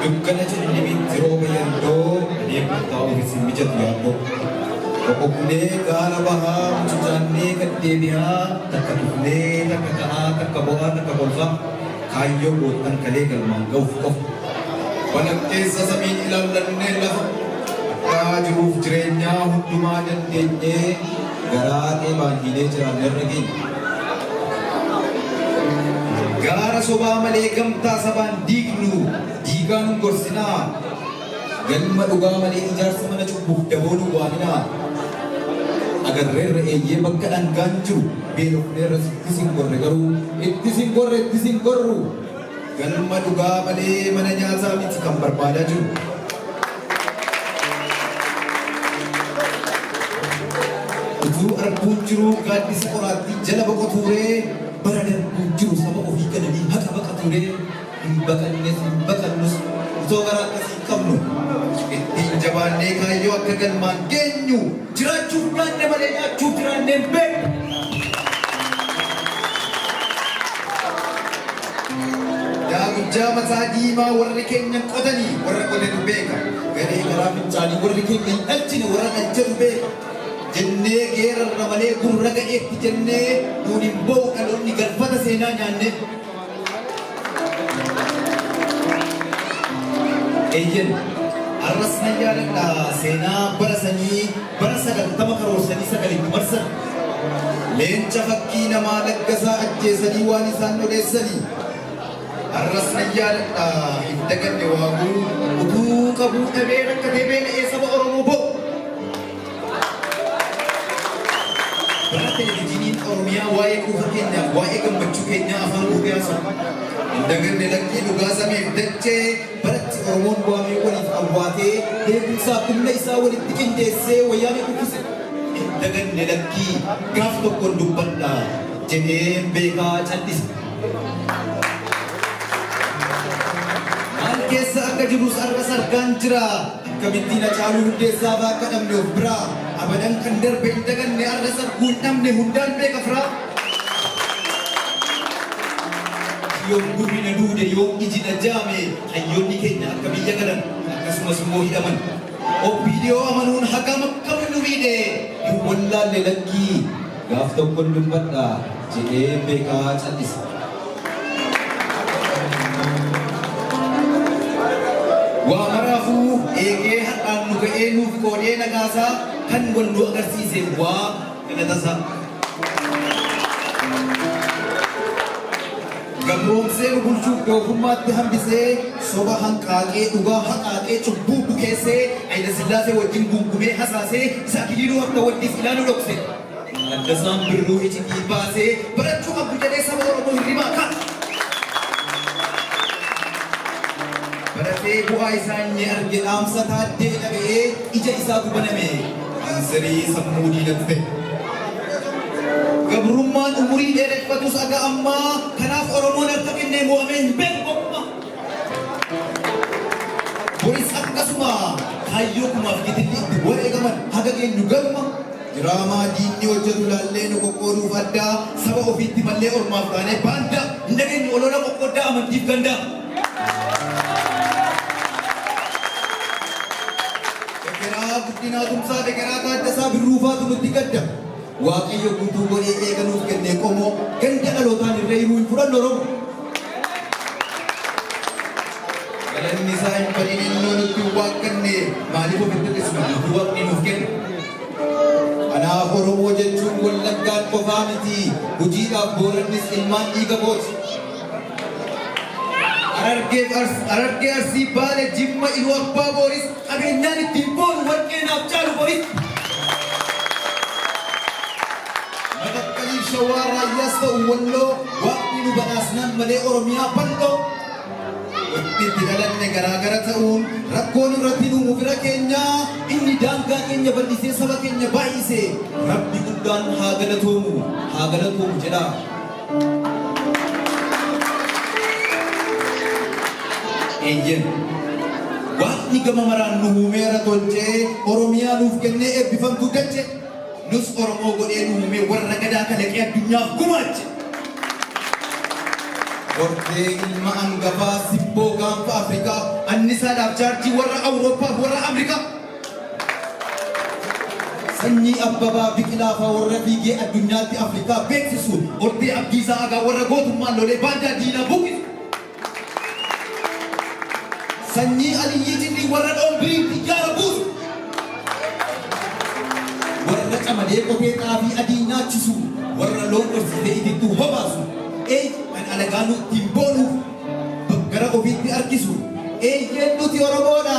dukkana ciniinni jirooba yandoo deeman taa'uuf isin mijatu yaadoo boqoqnee gaara bahaa mucucaannee gad deebi'aa takka dhufnee takka ta'aa takka bo'aa takka kolfaa Kaayyoo goottan kalee galmaan gahuuf qofa. Walakkeessa samii ilallannee lafa. Addaa jiruuf jireenyaa hundumaa dandeenyee garaa dheebaanyiinee jiraanne irra geenye. Gaara sobaa malee gamtaa sabaan diignu diigaa nun gorsinaa. Galma dhugaa malee ijaarsa mana cubbuuf daboo nu waaminaa. Agarreerra eeyyee bakka dhangaan jiru beelofneerras itti sin gorre garuu. Itti sin gorre itti sin gorru. Galma dhugaa malee mana nyaataa miti kan barbaadaa jiru. Utuu arguun jiruu gaaddisa qoraattii jala boqotuuree bara darbuun jiru saba ofii galanii haqa baqatuuree. Hin baqannes hin baqannus otoo garaa akkasiin qabnu ittiin jabaannee kaayyoo akka galmaan geenyu jiraachuuf nyaanne malee nyaachuuf jiraannee hin beeknu. Yaa gujjaa mataa diimaa warri keenya hin qotanii warra qotetu beeka. Garee garaa fincaanii warri keenya hin dhalchine warra dhalchetu beeka. Jennee geerarra malee gurra ga'eetti jennee nuun hin ba'u dhaloonni galfata seenaa nyaannee. Eeyyen, arras nan yaadadha seenaa bara sanyii bara sagaltama karoorsanii sagal itti marsan. Leenca fakkii namaa Laggasaa ajjeesanii waan isaan odeessanii. Arras nan yaadadha hin daganne waaguu utuu qabuu dhabee rakkatee beela'ee saba Oromoo boo'u. Bara Televijiniin Oromiyaa waa'ee quufa keenyaaf waa'ee gammachuu keenyaa afaan guutee haasa'u. Hin daganne lakkii dhugaa sameef dachee baratti Oromoon waamee waliif awwaatee beekumsaaf humna isaa walitti qindeessee wayyaanee kuffise. Hin daganne lakkii gaaf tokkoon dubbadha jedheen beekaa cal'ise. Maal keessa akka jirus har'as argaan jira. Akkamittiin Hacaaluu Hundeessaa faa akka dhabne of biraa Abadan kan darbe hin daganne Arras arguu hin dhabne Hundaan beeka firaa Yoom gurri na duude Yoom iji na jaame Hayyoonni keenya akka biyya galan Akkasumas immoo hidhaman OPDO amanuun hagam akka nu miidhe Hin wallaalle lakkii Gaaf tokkon dubbadha jedhee beekaa callise. Waa maraafuu eegee har'aan nu ga'ee nuuf qoodee nagaasaa kan wal nu agarsiise waa galatasaa. Gabroomsee nu bulchuuf doofummaatti hambisee, soba hanqaaqee, dhugaa haqaaqee, cubbuu bukeessee, Hayilasillaasee wajjin guungumee hasaasee, isa Akiliiluu Habta wajjin silaa nu dhokse. Taaddasaan Birruu icitii baasee, barachuu qabdu jedhee saba Oromoo hirribaa kaase. Baratee bu'aa isaa inni arge dhaamsa Taaddee dhaga'ee ija isaatu baname. Kaanserii sammuu diinatu ta'e. Gabrummaan umurii dheereffatus haga ammaa kanaaf Oromoon harka kennee mo'amee hin beeku gonkumaa. Boris akkasuma kaayyoo kumaaf gitilli itti wareegaman haga geenyu galma diraamaa diinni hojjetu laallee nu qoqqooduuf addaa saba ofiitti mallee ormaaf taanee baandaa hin dhageenyu olola qoqqooddaa amantiif gandaa. Degeraa Guddinaa Tumsaa Degeraa Taaddasaa Birruufaatu nutti gadda. Waaqayyo guutuu godhee eega nuuf kennee qomoo ganda dhalootaan irra hiruu hin fudhannu Oromoo. Galanni isaa hin badin ilmoo nutti hin waaqanne maaliif ofitti dhisna guutuu waaqni nuuf kenne. Kanaaf Oromoo jechuun wallaggaan qofaa miti hojiidhaaf boorannis ilmaan dhiiga booti. Harargee Arsii Baale Jimma Iluu Abbaa Booris Qabeenyaan ittiin boonu warqee naaf caalu boritti. Matakkaliif Shawaa Raayyaas ta'u Walloo waaqni nu badhaasnaan malee Oromiyaa bal'oo. Wanti itti dhalanne garaagara ta'uun rakkoon irratti nu bira keenya inni daangaa keenya bal'isee saba keenya baay'ise rabbi guddaan haa galatoomu haa galatoomu jedha. Eeyyeen. Waaqni gama maraan nu uumeera tolchee Oromiyaa nuuf kennee eebbifamtu dache nus Oromoo godhee nu uumee warra gadaa kalaqee addunyaaf gumaache. Hortee ilma angafaa sibboo gaanfa Afrikaa annisaadhaaf chaarjii warra Awurooppaa fi warra Afrikaa. Sanyii Abbabaa Biqilaa faa warra fiigee addunyaatti Afrikaa beeksisu, Ordee Abdiisaa Agaa warra gootummaan lolee baandaa diinaa buqqisu, Sanyii Aliyyii Cindii warra Dhombiriin xiyyaara buusu, warra Camadee Qotee xaafii adii nyaachisu, warra loon horsiisee itittuu hobaasu, eey kan alagaanuu ittiin boonuuf gara ofiitti harkisu, eeyyeen nuti Oromoodha!